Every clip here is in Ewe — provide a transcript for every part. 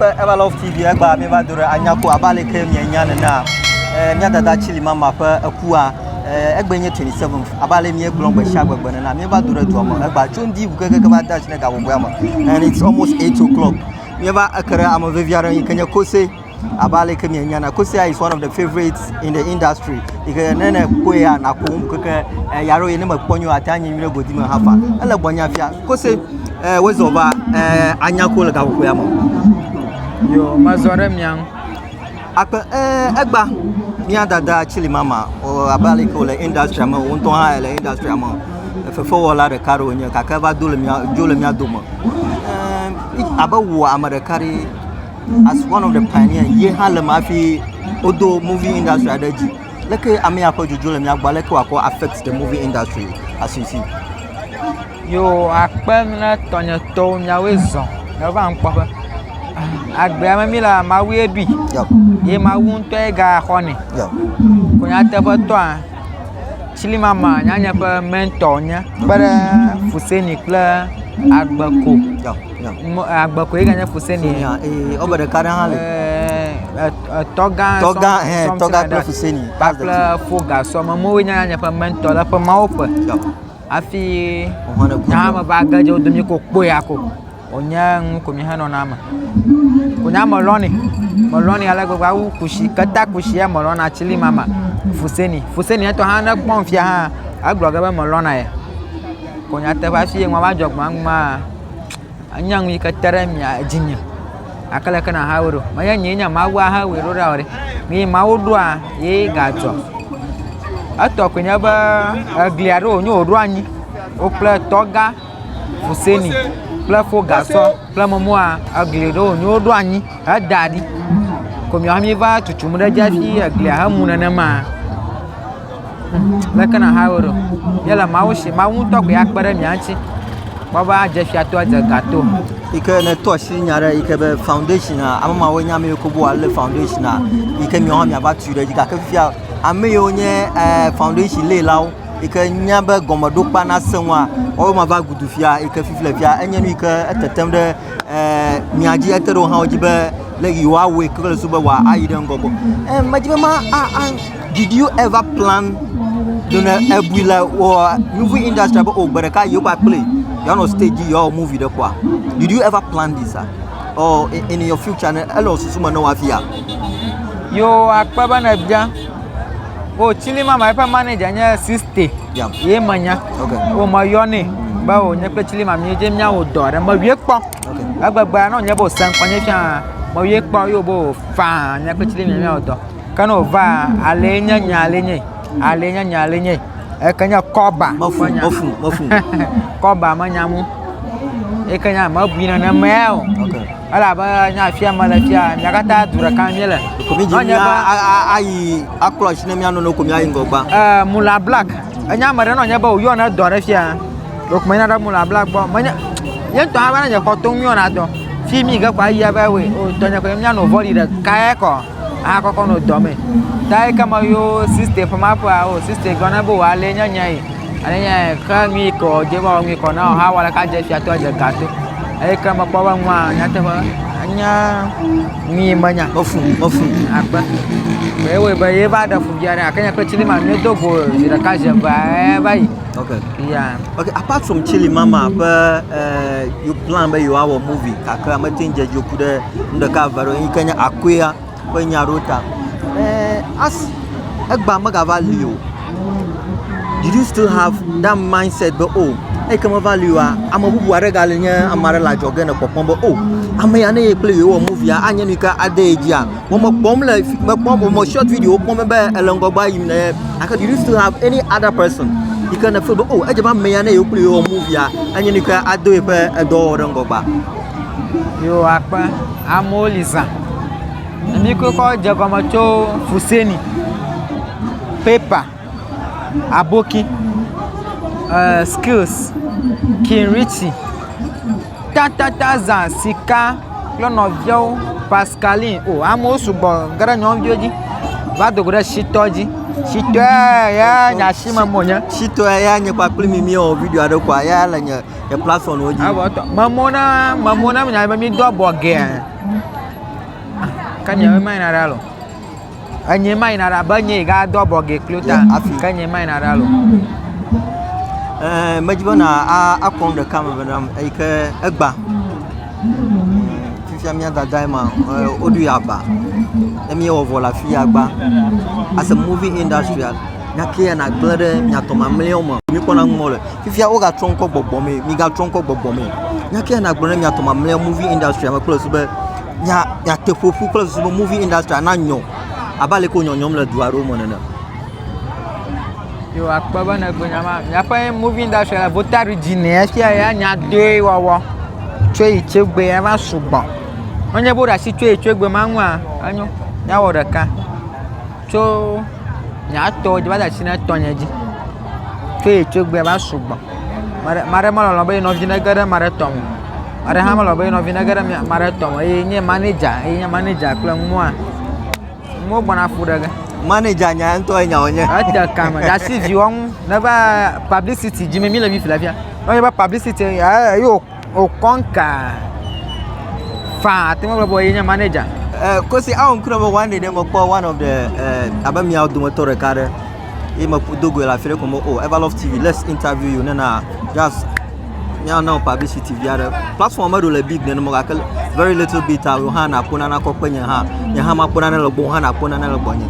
Ƒe Evalov TV egba mieva do ɖe anyako abe ale ke mienya nenea eh, mía dada Chili mama ƒe ekua eh, egbe nye 27 abe ale míegblɔ gbe sia gbegbe nena mieva do ɖe dua me egba tso ŋdi ʋu kekeke va de asi ɖe gabɔbɔea me and it's almost 8 o'clock mieva eke ɖe ame vevi aɖe yi ke nye kose abe ale ke mienya na kose is one of the favorites in the industry yi ke ne ne kpɔe ya nakɔ ŋu keke eh, ya ɖo yi ne mekpɔ nyo ate anyi nyuie godi me hafa ele gbɔnya fia Kose, eh, wezɔ va, eh, anya ko le gaƒoƒoea me. Yo, mezɔ ɖe mia ŋu. Akpe, eh, egba, mia dada Chili Mama, o, abe aleke wòle industria me, wò ŋutɔ hã ele industria me. Fefewɔla ɖeka ɖe wònye, gake eva do le mia, dzo le mia dome. Eh, abe wò ame ɖeka ɖe, as one of the pioneer, ye hã le me hafi wodo movie industria ɖe dzi. Leke ame ya ƒe dzodzo le mía gbɔ? Aleke wòakɔ affect the movie industry as you see? Yo akpe ne tɔnyetɔwo nyawoe zɔ neva ŋkpɔƒe. Agbea me mi la Mawu ye ɖui Yep. ye Mawu ŋutɔ ye gaxɔnɛ. Yep. Ko nyateƒetɔa Chilimama nyanye ƒe mentor nye kpe ɖe Fuseni kple Agbeko Yep. agbe koe ganye kuseni nya eye wobe ɖeka ɖe hã le etɔ gã tɔ gã hɛ tɔ gã kple kuseni kple foga sɔme mowoe nye nye ƒe mɛntɔ le ƒe mawo ƒe hafi nyahame va ge dze wo domi ko kpɔe ya ko wònye nu ko mi henɔna me wònye ame lɔni melɔni ale gbegbe awu kusi keta kusi ya melɔna tsili mama fuseni fuseni etɔ hã ne kpɔm fia hã egblɔ ge be melɔna ye ko nyateƒe hafi ye nua va dzɔ gbɔn maa Anya nu yi ke te ɖe mia dzinye gake leke nàhawɛ ɖo? Menye nyee nye Mawu ahawɛ ɖo ɖa o ɖe. Nyee Mawu ɖoa ye gadzɔ. Etɔ koe nye be eglia ɖo wònyo wòɖo anyi. Wò kple tɔgã Hussaini kple fo gasɔ kple mɔmɔa egli ɖo wònyo woɖo anyi heda ɖi. Ko miwo hã miva tutum ɖe edzi hafi eglia hemu nenema. Leke na hae woɖo? Yele Mawu si, Mawu ŋutɔ koe akpe ɖe mia ŋuti. Kpɔ be adze fia to, adze ga to. yi ke ne tɔ si nya ɖe yi ke be foundation a ame mawo nya ame yiwo ke bo ale foundation a yi ke miawo hã miava tui ɖe dzi gake fifia ame yiwo nye eh, foundation lé lawo yi ke nya be gɔmeɖokpea nasẽ ŋua woawo ma va gudu fia yi ke fifi le fia enye nu yi ke etetem ɖe eh, mia dzi ete ɖe wo hã wo dzi be le yewoawɔe kple le so be wòayi ɖe ŋgɔ gbɔ eh, medi be ma a, a, Did you ever plan to ne ebui le wɔ movie industry be o gbe ɖeka yewo va kple yewoanɔ stage dzi yewoawɔ movie ɖe kpɔa? Did you ever plan this ah? Or in, in your future ne ele wò susu me ne wɔ afia? Yo akpe be ne bia. O tsili mama eƒe manager nye siste. Yeah. Ye menya. Okay. O me yɔnɛ be o nye kple tsili mama yedze mía wò dɔ ɖe me wie kpɔ. Okay. Egbegbe anɔ nye be o sɛnkɔ nye fia me wie kpɔ yo be o faa nye kple tsili mama wò dɔ. Ke ne wòvaa, alee nye nye, alee nye, alee nye nye, alee nye. Eke nye kɔba. Mefu, mefu, mefu. kɔba menya nu. Eke nye mebui nenemae o. Okay. Elabe nye afia mele fia, mia katã du ɖeka míele. Komi dzi mía ayi akplɔ asi ne mía nɔnɔ komi ayi ŋgɔgba. Ɛɛ Mula Black. Enye ame ɖe nɔ nye be wòyɔ ne dɔ ɖe fia. Ɖeko menya ɖe Mula Black gbɔ. Menye, ye ŋutɔ hã be ne nye xɔ to ŋu yɔna dɔ. Fi mi ke kɔ ayi ebe, o tɔnye kɔ mía nɔ vɔli ɖekae kɔ. ahakɔkɔ nɔ dɔ me. Ta ekema yo sista ƒe ma ƒea o sista gblɔ na be wòale nye nya yi. Ale nya yi xe nu yi ke wòdze va wɔ nu yi ke wòna wɔ hã wɔ ɖeka dze fiatɔ dze ga to. Eye ke mekpɔ be nua nyateƒe enya nu yi menya ƒe fu ƒe fu akpe. Ye wɔe be ye va ɖe fu via ɖe gake nya kple tsili ma nu do go zi ɖeka zi eve e va yi. Okay. Yeah. Okay, apart from Chili Mama ƒe eh, you plan be yewoawɔ movie kakra mete ŋu dze dzoku ɖe nu ɖeka eve aɖewo yike nye akɔea ƒe nya aɖewo ta be asi egbea megava li o. Did you still have that mindset be o eyike meva li oa ame bubu aɖe gali nye ame aɖe le adzɔge le kpɔkpɔm be o ame ya ne ye kple ye wɔ movia anye nu yike ade ye dzia vɔ mekpɔm le fi mekpɔm vɔ me shɔt video kpɔm be ele ŋgɔgbea yim le ye gake did you still have any other person yike nèfil be o edze be ame ya ne yewo kple ye wɔ movia anye nu yike ado yeƒe edɔwɔwɔ ɖe ŋgɔgbea. Yo akpa amewo li zã. Emi ke kɔ dze gɔme tso fuseni, pepa, aboki, eh, skills, kinritsi, tatata zã, sika kple nɔviawo, paskalin. O amewo sugbɔ ge ɖe nyɔnuviwo dzi va do go ɖe shitɔ dzi. Shitɔa ya nya shi me me wonye. Shitɔa ya nye kpakple mi miewɔ video aɖe kɔa ya le nye. Ke platform wo dzi. Abo tɔ. Memo na memo na nya be mi do abo ge. Ke nye me mai na ra lo. Enye mai na ra be nye ga do abo ge klo ta. Ke nye mai na ra lo. Eh, me dzi be na a a kɔn de kam be nam e ke egba. Fifia mi dada ma o du ya ba. E mi o vola fi ya gba. As a movie industrial, nya ke ya na gblede nya to mamleo mo. Mi kona mo le. Fifia wogatrɔ ŋkɔ gbɔgbɔ mee, migatrɔ ŋkɔ gbɔgbɔ mee. Nya ke nagblɔ ne miatɔ mamlea movie industry me kple susu be miate ƒoƒu kple susu be movie industry na nyɔ abe ale ke wonyɔnyɔm le du aɖewo me nene. Yo akpɔ be ne gbe nyama miaƒe movie industry la vota ɖu dzi ne efia ya nya doe wɔwɔ tso yi tso gbe ya va sugbɔ. Wonye bo ɖasi tso yi tso gbe ma ŋua enyo. Nyawɔ ɖeka. Tso nye atɔ dzi va de asi na tɔnye dzi. Tso ye tso gbea va sugbɔ. Ame aɖe, ame aɖe melɔ̃lɔ be ye nɔvi nege ɖe ame aɖe tɔ me o. Ame aɖe hã melɔ̃lɔ be ye nɔvi nege ɖe mia, ame aɖe tɔ me o. Eye nye manɛdza, eye nye manɛdza kple nua, nuwo gbɔna ƒo ɖe ge. Manɛdza nya ŋutɔ ye nya wònye. Ete kame ɖe asi viwɔnu neva pablisiti dzi mí le mí ƒlefia. Ne wonye be pablisiti ye, ye wò. O kɔnka faa ate ŋu agblɔ be ye nye manager. Uh, Kosi, I am Kurobo one day, then Mokpo, one of the, uh, abe miawo dometɔ ɖeka ɖe, ye me do goe le afi ɖe ko mo, oh, Everlove TV, let's interview you, nena, just, miawo na publicity vi aɖe. Platform meɖo le big nene mo, gake very little bit, a, wo hã nakpɔ nana kɔ kpe nye hã, nye hã makpɔ nana le gbɔ, wo hã nakpɔ nana le gbɔ nye.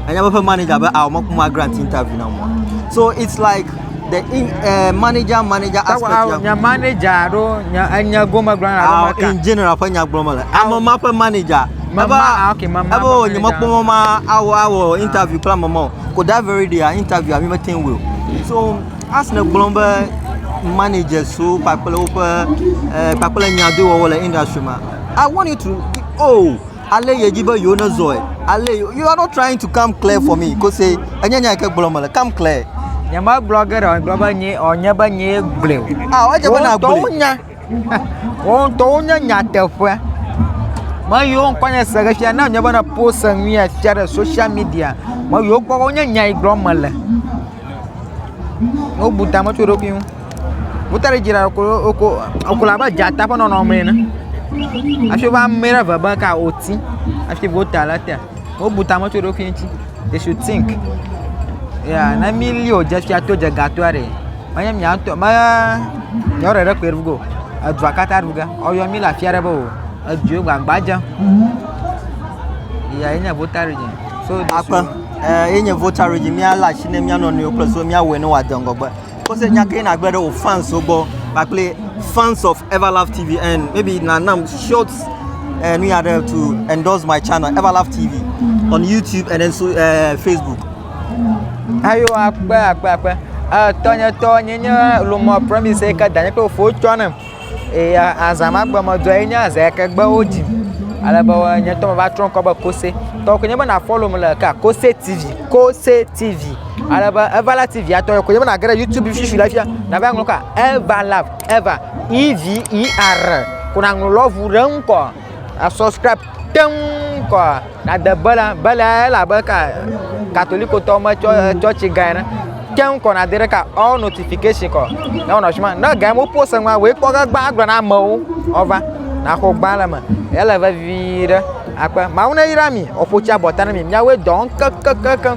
Anya be ƒe manager be, awo mekpɔ ma grant interview na mo. So it's like, the in, uh, manager manager Tawa aspect ya nya ŋu. manager alo nya enya gome gblɔ na Awo, maka. in general ƒe nya gblɔm le ame ma ƒe manager Ma- Ebe- ma- ah, okay, ma- ma- ebe ma- o manager. nyemekpɔ mɔ ma awɔ awɔ interview kple ame ma o ko that very day ah, interview ami mete ŋu wɔ o. so asne gblɔm be managers wo kpakple woƒe eh, kpakple nyadowɔwɔ le industry ma i want you to oh ale yedzi be yewo ne zɔe ale yo you are not trying to come clear for me kose enye nya yi ke gblɔm mele come clear Nyemegblɔ ge ɖe o, megblɔ be nye o nye be nyee gblɔe o. ah edze be na Woŋtɔwo gblɔe nya. Woŋtɔwo nye nyateƒea. Me yiwo ŋkɔ nye se xexia ne nye be ne post enuya fia ɖe social media me yiwo kpɔ wonye nya yi gblɔm mele. Wobu ta me tso eɖokui ŋu. Wota ɖe dzi ɖa woko woko wokɔ le abe dzata ƒe nɔnɔme ene hafi woƒe ame ɖe ve be ka oti hafi wota ɖe te. Wobu tame tso eɖokui ŋuti. They should think ya ne mili o dze fia to dze ga toa ɖe menye mia ŋutɔ me yewoɖe ɖe kpe ɖu ge o edua katã ɖu ge woyɔ mi le afi aɖe be o edua gbagba dzem ya ye nye vota ɖe dzi. So akpe eh, ye nye vota ɖe dzi míalé asi ne mía nɔnɔewo kple so míawɔe ne wòade ŋgɔgbe Kɔse nya ke nagbe ɖe wò fans wo gbɔ kpakple fans of Everlove TV and maybe na nam short uh, nu ya ɖe to endorse my channel Everlove TV on YouTube and then so uh, Facebook. Ayo akpe akpe akpe. Uh, tɔnyetɔ nye nye lomɔ promise ke danye kple fo tsɔ nam. Eya azã ma gbe me dzɔe nye azã yake gbe wo dzi ale be nye tɔ va trɔ ŋkɔ be kose tɔ ko nye be na follow me le ka kose tv kose tv ale be eva la tv atɔ ko nye be na gere youtube fifi la fia na va ŋlɔ ka eva love eva e v e r ko na ŋlɔ love ɖe ŋkɔ A subscribe teŋ kɔ nade bela bela ele abe ka katolikotɔ me tsɔ tsɔtsi gã ene. Teŋ kɔ nade ɖe ka all notification kɔ. Ne wonɔ suma ne gã mo post ŋua wei kpɔ ge gba agblɔ na amewo ɔva naxɔ gba le me. Ele vevi ɖe akpe mawu ne yra mi ɔƒotsi abɔta ne mi miawo dɔ kekekekeŋ.